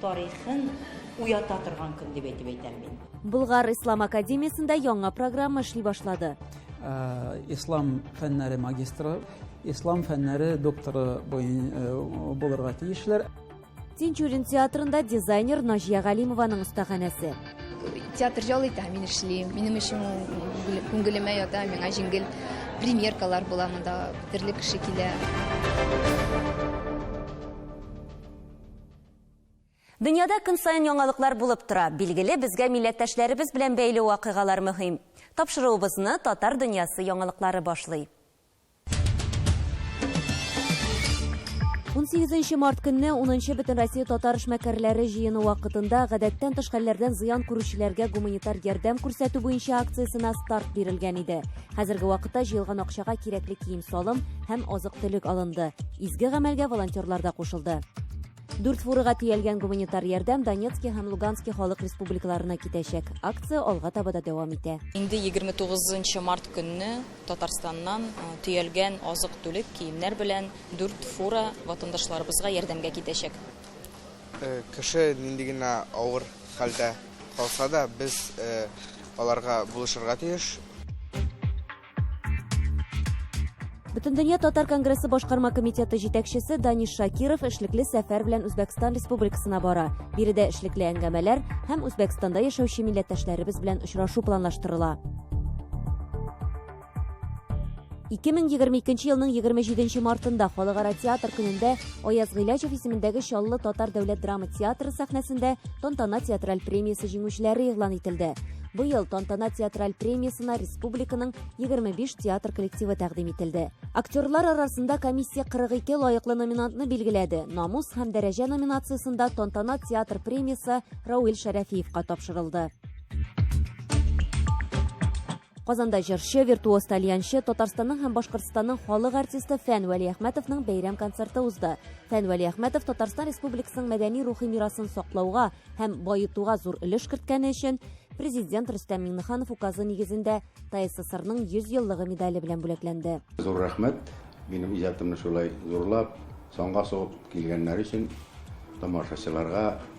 тарихын уята торган көн дип әйтеп әйтәм мин. Булгар Ислам академиясендә яңа программа эшли башлады. Э, ислам фәннәре магистры, ислам фәннәре докторы э, булырга тиешләр. Тинчурин театрында дизайнер Наҗия Галимованың остаханәсе. Театр җал итә, мин эшлим. Минем өчен күңелемә ята, миңа җиңел премьеркалар була монда, төрле кеше килә. Дөньяда көн саен яңалыклар булып тора. Билгеле, безгә милләттәшләребез белән бәйле вакыйгалар мөһим. Тапшыруыбызны Татар дөньясы яңалыклары башлый. Унсигезенче март көнне унынчы Бөтенроссия татар эшмәкәрләре җыены вакытында гадәттән тыш хәлләрдән зыян күрүчеләргә гуманитар ярдәм күрсәтү буенча акциясенә старт бирелгән иде. Хәзерге вакытта җыелган акчага кирәкле кием-салым һәм азык-төлек алынды. Изге гамәлгә волонтерлар да кушылды. Дүрт фурага төялгән гуманитар ярдәм Донецкий һәм Луганский халык республикаларына китәчәк. Акция алга таба да дәвам итә. Инде 29 март көнне Татарстаннан төялгән азык-төлек, киемнәр белән дүрт фура ватандашларыбызга ярдәмгә китәчәк. Кеше нинди генә авыр хәлдә калса да, без аларга булышырга тиеш. Бөтендөнья татар конгрессы башкарма комитеты җитәкчесе Даниш Шакиров эшлекле сәфәр белән Үзбәкстан Республикасына бара. Биредә эшлекле әңгәмәләр һәм Үзбәкстанда яшәүче милләттәшләребез белән очрашу планлаштырыла. 2022 елның 27 мартында халыкара театр көнендә Аяз Гыйләҗев исемендәге Чаллы татар дәүләт драма театры сәхнәсендә Тантана театраль премиясе җиңүчеләре игълан ителде. Быел Тантана театраль премиясына республиканың 25 театр коллективы тәкъдим ителде. Актерлар арасында комиссия 42 лаеклы номинантны билгеләде. Намус һәм дәрәҗә номинациясендә Тантана театр премиясе Рауил Шәрәфиевка тапшырылды. Казанда җырчы, виртуоз тальянчы, Татарстанның һәм Башкортстанның халык артисты Фән Вәлиәхмәтовның бәйрәм концерты узды. Фән Вәлиәхмәтов Татарстан Республикасының мәдәни-рухи мирасын саклауга һәм баетуга зур өлеш керткәне өчен президент Рөстәм Миңнеханов указы нигезендә ТССРның 100 еллыгы медале белән бүләкләнде. Зур рәхмәт, минем иҗатымны шулай зурлап, санга сугып килгәннәр өчен, тамашачыларга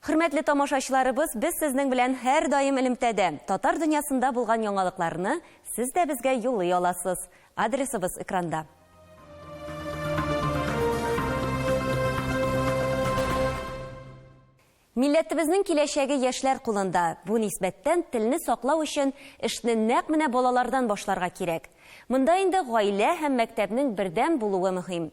Хөрмәтле тамашачыларыбыз, без сезнең белән һәрдаим элемтәдә. Татар дөньясында булган яңалыкларны сез дә безгә юллый аласыз. Адресыбыз экранда. Милләтебезнең киләчәге яшьләр кулында. Бу нисбәттән телне саклау өчен эшне нәкъ менә балалардан башларга кирәк. Монда инде гаилә һәм мәктәпнең бердәм булуы мөһим.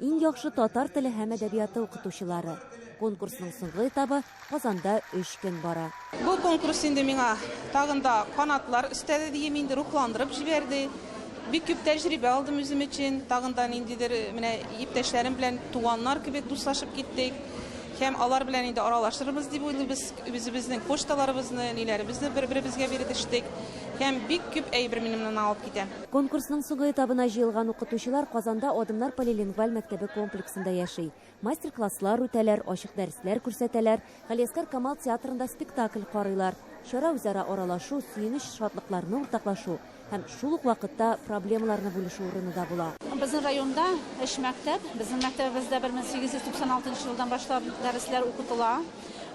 Иң яхшы татар теле һәм әдәбияты укытучылары. Конкурсның соңгы этабы Казанда өч көн бара. Бу конкурс инде миңа тагын да канатлар өстәде диим инде, рухландырып җибәрде. Бик күп тәҗрибә алдым үзем өчен, тагын да ниндидер менә иптәшләрем белән туганнар кебек дуслашып киттек. Һәм алар белән инде аралашырбыз дип уйлыйбыз, үзебезнең почталарыбызны, ниләребезне бер-беребезгә биредештек. Һәм бик күп әйбер минем моннан алып китә. Конкурсның соңгы этабына җыелган укытучылар Казанда Адымнар полилингваль мәктәбе комплексында яши. Мастер-класслар үтәләр, ачык дәресләр күрсәтәләр, Галиәскар Камал театрында спектакль карыйлар. Чара үзара аралашу, сөенеч, шатлыкларны уртаклашу һәм шул ук вакытта проблемаларны бүлешү урыны да була. Безнең районда өч мәктәп, безнең мәктәбебездә 1896 елдан башлап дәресләр укытыла.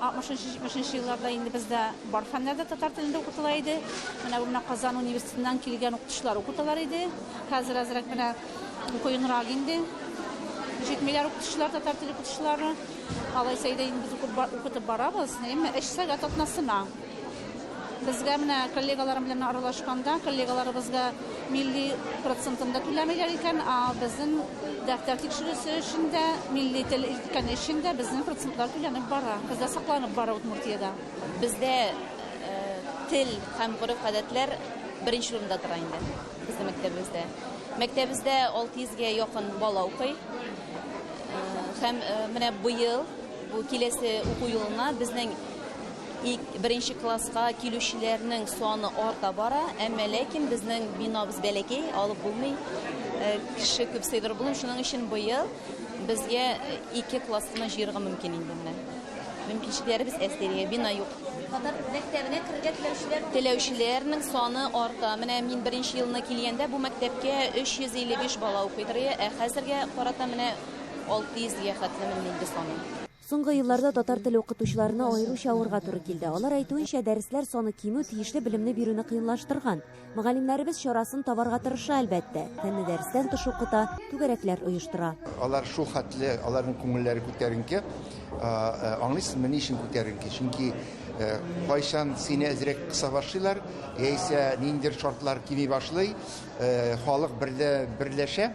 60-70 елларда инде бездә бар фәннәр дә татар телендә укытыла иде. Менә бу менә Казан университетыннан килгән укытучылар укыталар иде. Хәзер әзрәк менә кыенрак инде. Җитмиләр укытучылар, татар теле укытучылары. Алайса иде инде без укытып барабыз, әмма эш сәгать атнасына. Безгә менә коллегаларым белән аралашканда, коллегаларыбызга милли процентын да түләмиләр икән, а безнең дәфтәр тикшерүсе өчен дә, милли тел өйрәткәне өчен дә безнең процентлар түләнеп бара. Бездә сакланып бара Удмуртиядә. Бездә тел һәм гореф-гадәтләр беренче урында тора инде безнең мәктәбебездә. Мәктәбебездә 600 гә якын бала укый. Һәм менә быел, бу киләсе уку елына безнең Ик, беренче класска килүчеләрнең саны арта бара, әмма ләкин безнең бинабыз бәләкәй, алып булмый, э, кеше күп сыйдырып булмый, шуның өчен быел безгә ике класс кына җыерга мөмкин инде менә. Мөмкинчекләребез әз дияргә, бина юк. Татар мәктәбенә керергә теләүчеләр Теләүчеләрнең саны арта. Менә мин беренче елны килгәндә бу мәктәпкә 355 бала укыйдыр, ә хәзергә карата менә 600 гә хәтле менде инде саны. Соңгы елларда татар теле укытучыларына аеруча авырга туры килде. Алар әйтүенчә, дәресләр саны кимү тиешле белемне бирүне кыенлаштырган. Мөгаллимнәребез чарасын табарга тырыша, әлбәттә. Фәнне дәрестән тыш укыта, түгәрәкләр оештыра. Алар шул хәтле, аларның күңелләре күтәренке. Аңлыйсызмы, ни өчен күтәренке? Чөнки кайчан сине әзрәк кыса башлыйлар, яисә ниндидер шартлар кими башлый, халык берләшә.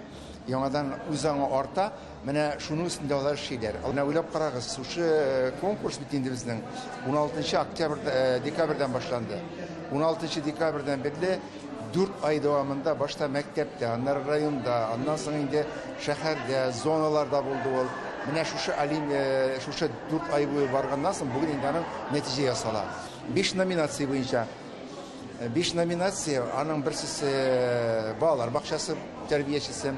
Яңадан үз аңы арта. Менә шуның өстендә алар эшлиләр. Менә уйлап карагыз, шушы э, конкурс бит инде безнең 16 октябрь э, декабрьдән башланды. 16 декабрьдән бирле 4 ай дәвамында башта мәктәптә, аннары районда, аннан соң инде шәһәрдә, зоналарда булды ул. Менә шушы алим, э, шушы 4 ай буе барганнан соң бүген инде аның нәтиҗә ясала. 5 номинация буенча Биш номинация, аның берсесе балалар бакчасы тәрбиячесе,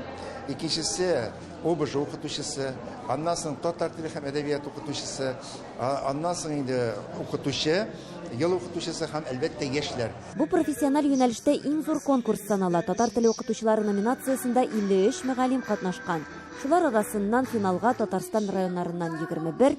икенчесе ОБЖ укытучысы, аннан соң татар теле һәм әдәбият укытучысы, аннан соң инде укытучы, ел укытучысы һәм әлбәттә яшьләр. Бу профессиональ юнәлештә иң зур конкурс санала. Татар теле укытучылары номинациясендә 53 мөгаллим катнашкан. Шулар арасыннан финалга Татарстан районнарыннан 21,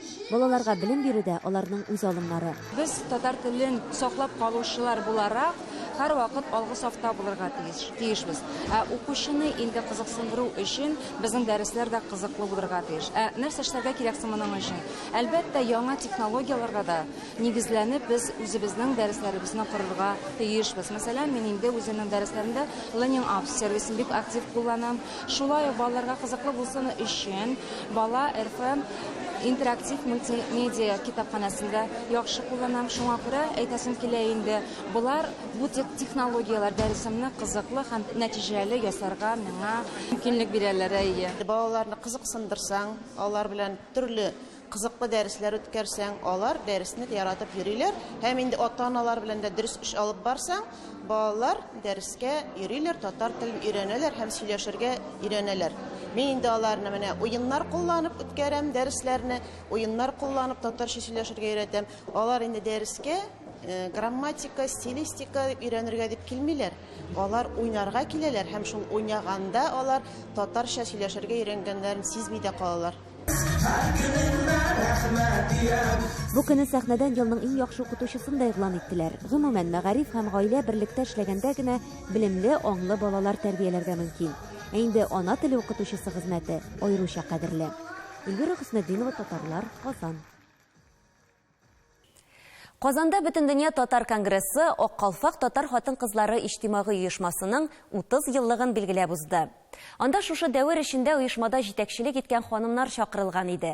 Балаларга белем бирү дә, аларның үз алымнары. Без, татар телен саклап калучылар буларак, һәрвакыт алгы сафта булырга тиеш, тиешбез. Ә укучыны инде кызыксындыру өчен безнең дәресләр дә кызыклы булырга тиеш. Ә нәрсә эшләргә кирәк соң моның өчен? Әлбәттә, яңа технологияләргә дә нигезләнеп, без үзебезнең дәресләребезне корырга тиешбез. Мәсәлән, мин инде үземнең дәресләремдә Learning Apps сервисын бик актив кулланам. Шулай ук балаларга кызыклы булсын өчен Бала РФ интерактив мультимедиа китапханәсен дә яхшы кулланам. Шуңа күрә әйтәсем килә инде, болар, бу технологияләр дәресемне кызыклы һәм нәтиҗәле ясарга миңа мөмкинлек бирәләр. Әйе. Балаларны кызыксындырсаң, алар белән төрле Кызыклы дәресләр үткәрсәң, алар дәресне яратып йөриләр. Һәм инде ата-аналар белән дә дөрес эш алып барсаң, балалар дәрескә йөриләр, татар телен өйрәнәләр һәм сөйләшергә өйрәнәләр. Мин инде аларны менә уеннар кулланып үткәрәм дәресләрне, уеннар кулланып татарча сөйләшергә өйрәтәм. Алар инде дәрескә э, грамматика, стилистика өйрәнергә дип килмиләр. Алар уйнарга киләләр һәм шул уйнаганда алар татарча сөйләшергә өйрәнгәннәрен сизми дә калалар. Бу көнне сәхнәдән елның иң яхшы укытучысын да игълан иттеләр. Гомумән, мәгариф һәм гаилә берлектә эшләгәндә генә белемле, аңлы балалар тәрбияләргә мөмкин. Ә инде ана теле укытучысы хезмәте аеруча кадерле. Эльвира Хөснетдинова, Татарлар, Казан. Казанда Бөтендөнья татар конгрессы Ак калфак татар хатын-кызлары иҗтимагый оешмасының 30 еллыгын билгеләп узды. Анда шушы дәвер эчендә оешмада җитәкчелек иткән ханымнар чакырылган иде.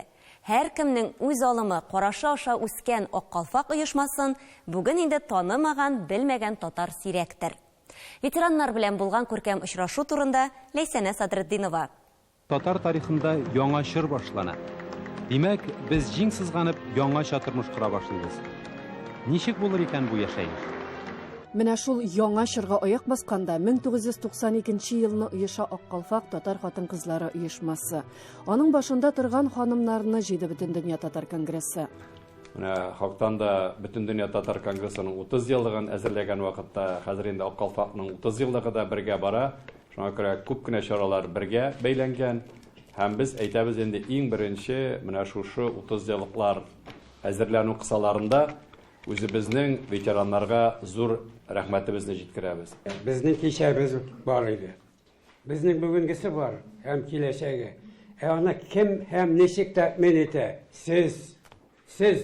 Һәркемнең үз алымы, карашы аша үскән Ак калфак оешмасын бүген инде танымаган, белмәгән татар сирәктер. Ветераннар белән булган күркәм очрашу турында Ләйсәнә Садретдинова. Татар тарихында яңа чор башлана. Димәк, без җиң сызганып, яңача тормыш кора башлыйбыз. Ничек булыр икән бу яшәеш? Менә шул яңа чорга аяк басканда 1992 елны оеша Ак калфак татар хатын-кызлары оешмасы. Аның башында торган ханымнарны җыйды Бөтендөнья татар конгрессы. Менә хактан да Бөтендөнья татар конгрессының 30 еллыгын әзерләгән вакытта, хәзер инде Ак калфакның 30 еллыгы да бергә бара. Шуңа күрә күп кенә чаралар бергә бәйләнгән һәм без әйтәбез инде, иң беренче менә шушы 30 еллыклар әзерләнү кысаларында үзебезнең ветераннарга зур рәхмәтебезне җиткерәбез. Безнең кичәбез бар иде. Безнең бүгенгесе бар һәм киләчәге. Ә аны кем һәм ничек тәэмин итә? Сез! Сез!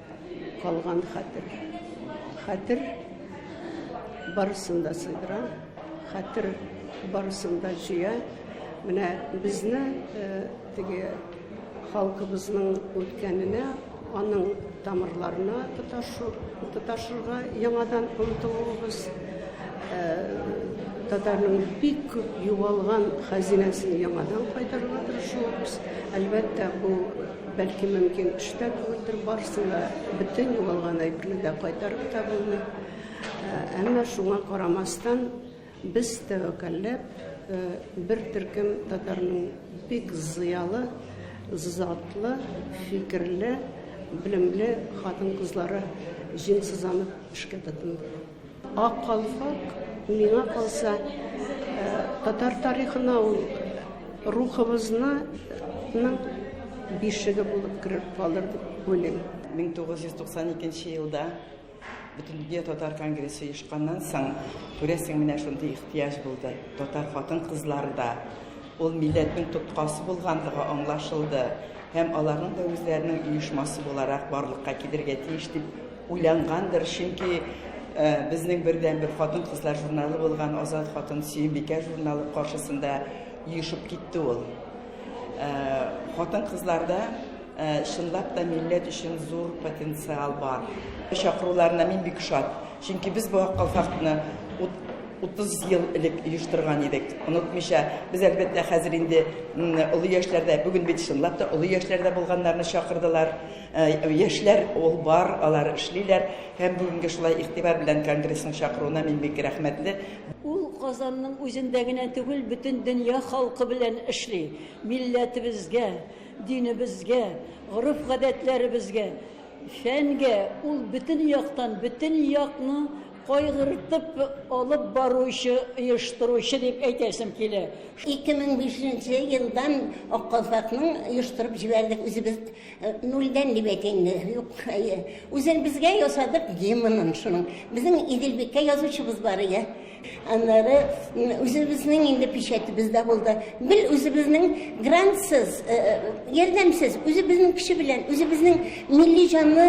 Калган хәтер. Хәтер барысын да сыйдыра. Хәтер барысын да җыя. Менә безне э, теге халкыбызның үткәненә, аның тамырларына тоташу, тоташырга яңадан омтылуыбыз э, татарның бик күп югалган хәзинәсен яңадан кайтарырга тырышуыбыз әлбәттә бу Бәлки, мөмкин эш тә түгелдер, барысын да, бөтен югалган әйберне дә кайтарып та булмый. Әмма шуңа карамастан, без тәвәккәлләп, бер төркем татарның бик зыялы, затлы, фикерле, белемле хатын-кызлары җиңсызланып эшкә тотынды. Ак калфак, миңа калса, татар тарихына ул рухыбызны ның бишеге булып кереп калыр дип уйлыйм. 1992 елда Бөтендөнья татар конгрессы оешканнан соң, күрәсең, менә шундый ихтыяҗ булды. Татар хатын-кызлары да Ул милләтнең тоткасы булгандыгы аңлашылды һәм аларның да үзләренең оешмасы буларак барлыкка килергә тиеш дип уйлангандыр, чөнки безнең бердәнбер хатын-кызлар журналы булган Азат хатын Сөембикә журналы каршысында оешып китте ул. Хатын-кызларда чынлап та милләт өчен зур потенциал бар. Чакыруларына мин бик шат, чөнки без бу акыл фактны 30 ел элек оештырган идек, онытмыйча. Без, әлбәттә, хәзер инде олы яшьләрдә, бүген бит чынлап та олы яшьләрдә булганнарны чакырдылар. Э, яшьләр ул бар, алар эшлиләр. Һәм бүгенге шулай игътибар белән конгрессның чакыруына мин бик рәхмәтле. Ул Казанның үзендә генә түгел, бөтен дөнья халкы белән эшли. Милләтебезгә, динебезгә, гореф-гадәтләребезгә, фәнгә ул бөтен яктан, бөтен якны Кайгыртып алып баручы, оештыручы дип әйтәсем килә. 2005 нче елдан Ак калфакның оештырып җибәрдек үзебез нульдән дип әйтә инде, юк, үзебезгә ясадык гимнын шуның. Безнең Иделбикә язучыбыз бар иде. Аннары үзебезнең инде печатебез дә булды. Бел үзебезнең грантсыз, ярдәмсез, үзебезнең көче белән, үзебезнең Милли җанлы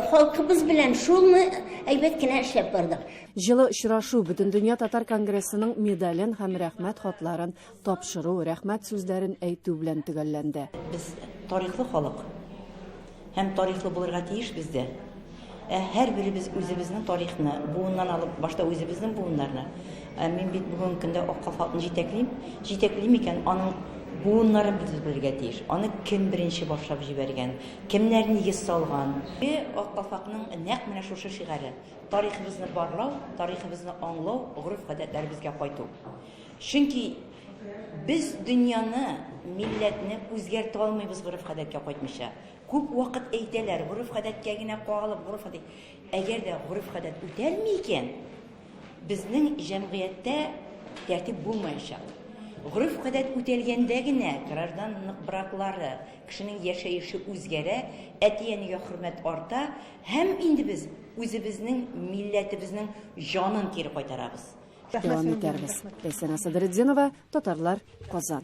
халкыбыз белән шулмы әйбәт кенә эшләп бардык. Җылы очрашу, Бөтендөнья татар конгрессының медален һәм Рәхмәт хатларын тапшыру, Рәхмәт сүзләрен әйтү белән төгәлләнде. Без тарихлы халык һәм тарихлы булырга тиешбез дә. Ә һәрберебез үзебезнең тарихны, буыннан алып, башта үзебезнең буыннарны, ә мин бит бүгенге көндә Ак калфакны җитәклим, җитәклим икән, аның буыннарын без белергә тиеш. Аны кем беренче башлап җибәргән, кемнәр нигез салган? Бе, Ак калфакның нәкъ менә шушы шигаре, тарихыбызны барлау, тарихыбызны аңлау, гореф-гадәтләребезгә кайту. Чөнки без дөньяны, милләтне үзгәртә алмыйбыз гореф-гадәткә кайтмыйча. Күп вакыт әйтәләр, гореф-гадәткә генә кагылып, гореф-гадәт. Әгәр дә гореф-гадәт үтәлми икән, безнең җәмгыятьтә тәртип булмаячак. Гореф-гадәт үтәлгәндә генә гражданлык браклары, кешенең яшәеше үзгәрә, әти-әнигә хөрмәт арта һәм инде без үзебезнең милләтебезнең җанын кире кайтарабыз. Дәвам итәрбез. Ләйсәнә Садретдинова, Татарлар, Казан.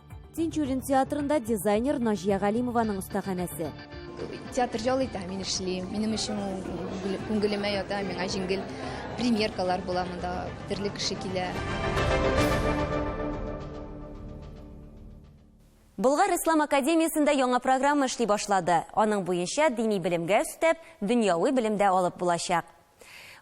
Тинчурин театрында дизайнер Наҗия Галимованың остаханәсе. Театр җал итә, мин эшлим. Минем өчен күңелемә ята, миңа җиңел премьеркалар була монда, төрле кеше килә. Болгар ислам академиясендә яңа программа эшли башлады. Аның буенча дини белемгә өстәп, дөньяви белем дә алып булачак.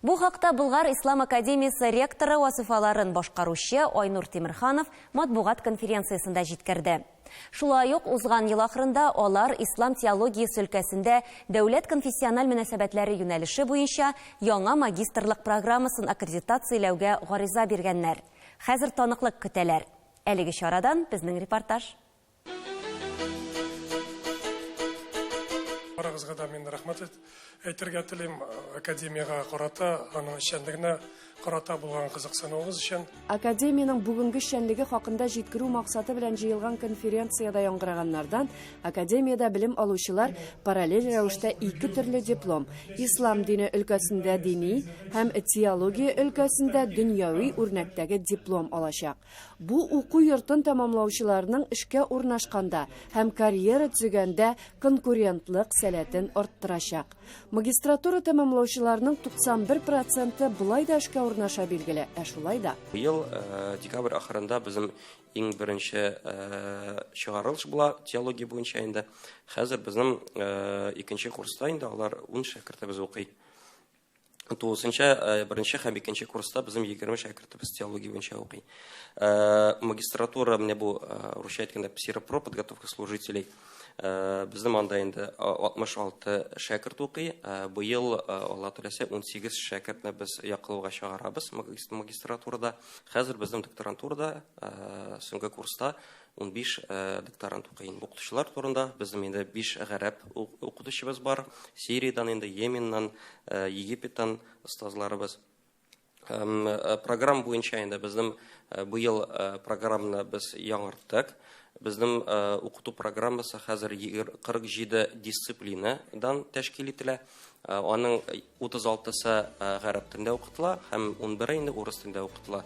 Бу хакта Болгар ислам академиясе ректоры вазыйфаларын башкаручы Айнур Тимерханов матбугат конференциясендә җиткерде. Шулай ук узган ел ахырында алар ислам теологиясе өлкәсендә дәүләт-конфессиональ мөнәсәбәтләре юнәлеше буенча яңа магистрлык программасын аккредитацияләүгә гариза биргәннәр. Хәзер таныклык көтәләр. Әлеге чарадан безнең репортаж. Барыгызга да мин рәхмәт әйтергә телим, академиягә карата, аның эшчәнлегенә карата булган кызыксынуыгыз өчен. Академиянең бүгенге эшчәнлеге хакында җиткерү максаты белән җыелган конференциядә яңгыраганнардан, академиядә белем алучылар параллель рәвештә ике төрле диплом, ислам дине өлкәсендә дини һәм теология өлкәсендә дөньяви үрнәктәге диплом алачак. Бу уку йортын тәмамлаучыларның эшкә урнашканда һәм карьера төзегәндә конкурентлык сәләтен арттырачак. Магистратура тәмамлаучыларның 91 проценты болай да эшкә урнаша билгеле, ә шулай да. Быел э, декабрь ахырында безнең иң беренче э, чыгарылыш була теология буенча инде. Хәзер безнең э, икенче курста инде алар 10 шәкертебез укый. Тулысынча беренче һәм икенче курста безнең 20 шәкертебез теология буенча укый. Магистратура менә бу русча әйткәндә псиропро подготовка служителей. Безнең анда инде 66 шәкерт укый. Быел Алла теләсә 18 шәкертне без яклауга чыгарабыз магистратурада. Хәзер безнең докторантурада соңгы курста Унбиш докторант укый инде. Укытучылар турында, безнең инде биш гарәп укытучыбыз бар. Сириядән инде, Йеменнан, Египеттан остазларыбыз. Программа буенча инде безнең быел программаны без яңарттык. Безнең укыту программасы хәзер 47 дисциплинадан тәшкил ителә. Аның 36-сы гарәп телендә укытыла һәм унбере инде урыс телендә укытыла.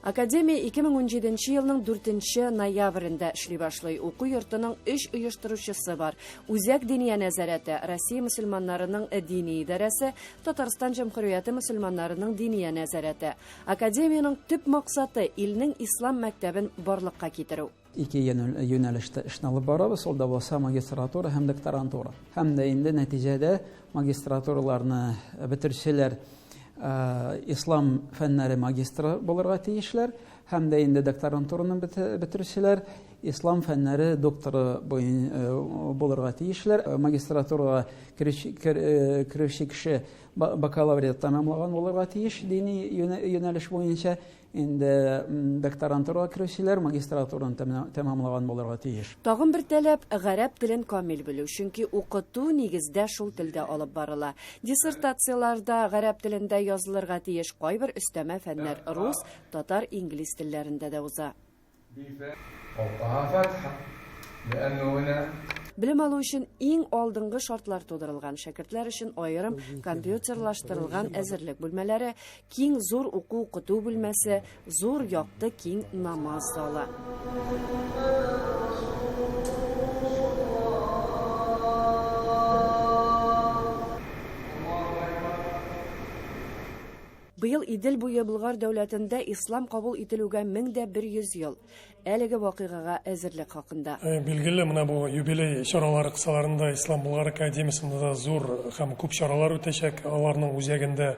Академия 2017 нче елның 4 нче ноябрендә эшли башлый. Уку йортының өч оештыручысы бар. Үзәк диния нәзарәте, Россия мөселманнарының дини идарәсе, Татарстан Җәмһүрияте мөселманнарының диния нәзарәте. Академиянең төп максаты илнең ислам мәктәбен барлыкка китерү. Ике юнәлештә эшне алып барабыз, ул да булса магистратура һәм докторантура. Һәм дә инде нәтиҗәдә магистратураларны бетерүчеләр ислам фәннәре магистры булырга тиешләр һәм дә инде докторантураны бетерүчеләр ислам фәннәре докторы э, булырга тиешләр э, магистратурага керүче э, кеше бакалавриат тәмамлаган булырга тиеш дини юнәлеш буенча Инде докторантурага керүчеләр магистратураны тәмамлаган булырга тиеш. Тагын бер таләп, гарәп телен камил белү, чөнки укыту нигездә шул телдә алып барыла. Диссертацияләр дә гарәп телендә язылырга тиеш, кайбер өстәмә фәннәр рус, татар, инглиз телләрендә дә уза. Белем алу өчен иң алдынгы шартлар тудырылган, шәкертләр өчен аерым компьютерлаштырылган әзерлек бүлмәләре, киң зур уку-укыту бүлмәсе, зур якты киң намаз залы. Быел Идел буе Болгар дәүләтендә ислам кабул ителүгә 1100 ел. Әлеге вакыйгага әзерлек хакында. Э, билгеле, менә бу юбилей чаралары кысаларында Ислам Болгар академиясендә да зур һәм күп чаралар үтәчәк. Аларның үзәгендә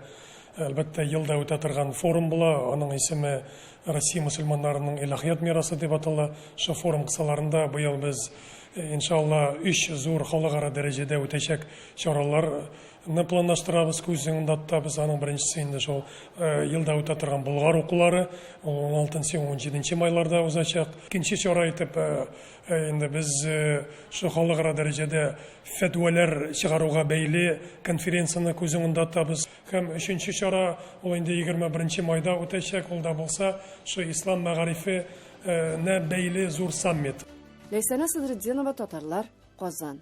Әлбәттә, елда үтә торган форум була. Аның исеме Россия мусульманнарының илаһият мирасы дип атала. Шул форум кысаларында быел без, э, иншалла, өч зур халыкара дәрәҗәдә үтәчәк чаралар ны планлаштырабыз күз уңында тотабыз аның беренчесе инде шул елда үтә торган болгар укулары ул он алтынчы он җиденче майларда узачак икенче чара итеп инде без шул халыкара дәрәҗәдә фәтвәләр чыгаруга бәйле конференцияне күз уңында тотабыз һәм өченче чара ул инде егерме беренче майда үтәчәк ул да булса шул ислам мәгарифе нә бәйле зур саммит Ләйсәнә Садретдинова татарлар Казан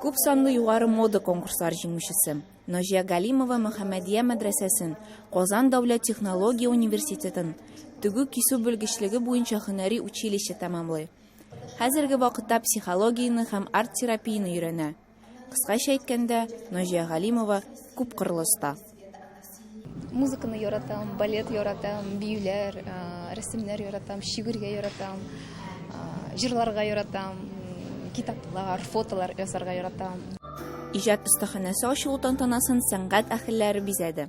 Күп санлы югары мода конкурслар җиңүчесе, Наҗия Галимова Мөхәммәдия мәдрәсәсен, Казан дәүләт технология университетын, тегү-кисү белгечлеге буенча һөнәри училище тәмамлый. Хәзерге вакытта психологияне һәм арт-терапияне өйрәнә. Кыскача әйткәндә, Наҗия Галимова, күпкырлы оста. Музыканы яратам, балет яратам, биюләр, рәсемнәр яратам, шигырьгә яратам, җырларга яратам, китаплар, фотолар ясарга яратам. Иҗат остаханәсе ачылу тантанасын сәнгать әһелләре бизәде.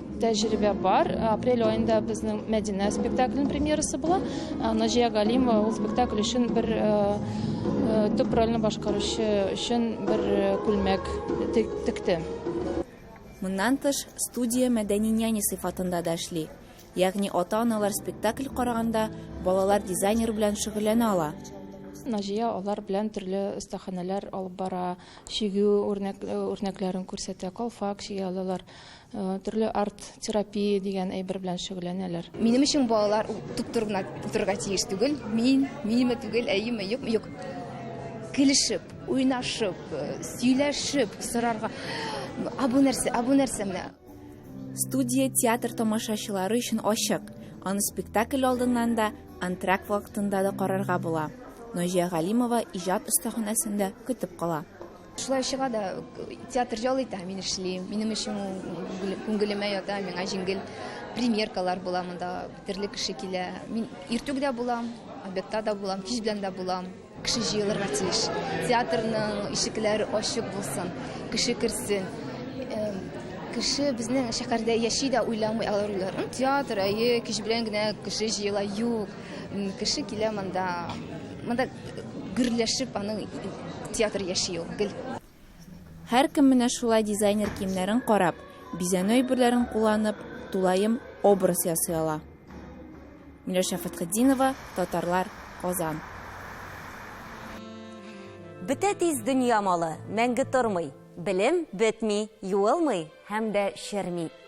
Тәҗрибә бар. Апрель аенда безнең Мәдинә спектаклен премьерасы була. Наҗия Галимова ул спектакль өчен бер төп рольне башкаручы өчен бер күлмәк текте. Моннан тыш, студия мәдәни няня сыйфатында да эшли. Ягъни ата-аналар спектакль караганда, балалар дизайнер белән шөгыльләнә ала. Наҗия алар белән төрле остаханәләр алып бара, чигү үрнәкләрен күрсәтә, калфак чигә алалар. Э, төрле арт-терапия дигән әйбер белән шөгыльләнәләр. Минем өчен балалар туп-тур гына утырырга тиеш түгел. Мин, минеме түгел, әйеме, юкмы, юк. Килешеп, уйнашып, э, сөйләшеп, сорарга. А бу нәрсә, а бу нәрсә менә? Студия театр тамашачылары өчен ачык. Аны спектакль алдыннан да, антракт вакытында да карарга була. Наҗия Галимова иҗат остаханәсендә көтеп кала. Шулай чыга да, театр ял итә, мин эшлим. Минем өчен күңелемә ята, миңа җиңел премьеркалар була монда, төрле кеше килә. Мин иртүк дә булам, обедта да булам, кич белән дә булам. Кеше җыелырга тиеш. Театрның ишекләре ачык булсын, кеше керсен. Кеше безнең шәһәрдә яши дә уйламый алар уйларын. Театр, әйе, кич белән генә кеше җыела, юк. Кеше килә монда, монда гөрләшеп аның театр яши ул, гел. Һәркем менә шулай дизайнер киемнәрен карап, бизәнү әйберләрен кулланып, тулаем образ ясый ала. Миләүшә Фәтхетдинова, Татарлар, Казан. Бетә тиз дөнья малы, мәңге тормый. Белем бетми, юылмый һәм дә черми.